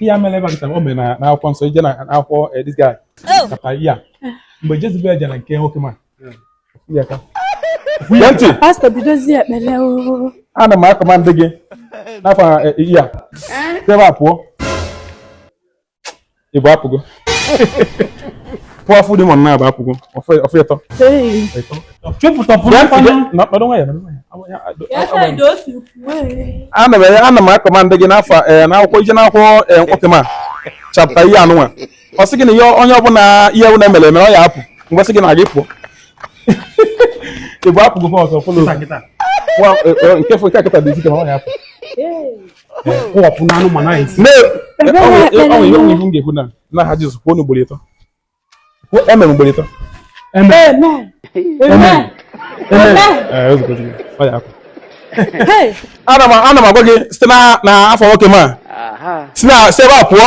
ihe a mere ebe a o mere na akwụkwọ nsọ ị jee na akwụkwọ eh, this guy kata ya mgbe Jezebel jere nke nwoke m a ya ka kwuye ntị pastọ bidozie ekpere ana m a-command gị n'afọ eh, ya si ebe a pụọ Ịbụa apụgo powerful demon naabọ apụgo ọ fọ ịtọ ana m a-command gị n'afọ eh, n'akwụkwọ ị jee n'akwụkwọ eh, nwoke m a chapter ihe anụnwa ọ sị gị na ihe onye ọbụla ihe ọbụla mere mere ọ ya apụ mgbe sị gị na gị pụọ ịbụa apụgo ọzọ fọlọ nke fọ nke a kịta dị isi ike ọ ya apụ kụwapụ na anụmanụ anyị si ga-ekwu na n'aha Jizọs kwuonụ ugboro ịtọ amen ugboro ịtọ amen amen amen ana m ana m agwa gị site n'afọ nwoke m a si na si ebe a pụọ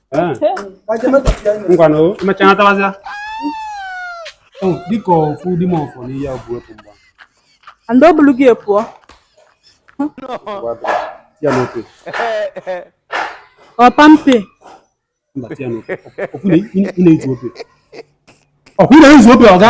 Eh. ngwanụ emechaa natawazịa oh, dịka ofu demon fọ n'ihe ọ bụ ịpụ mba and ọ bụrụ gị ị pụọ ya n'oke ọpa mpe mba tia n'oke ọkụ na-ezu ope ọkụ na-ezu ope ọga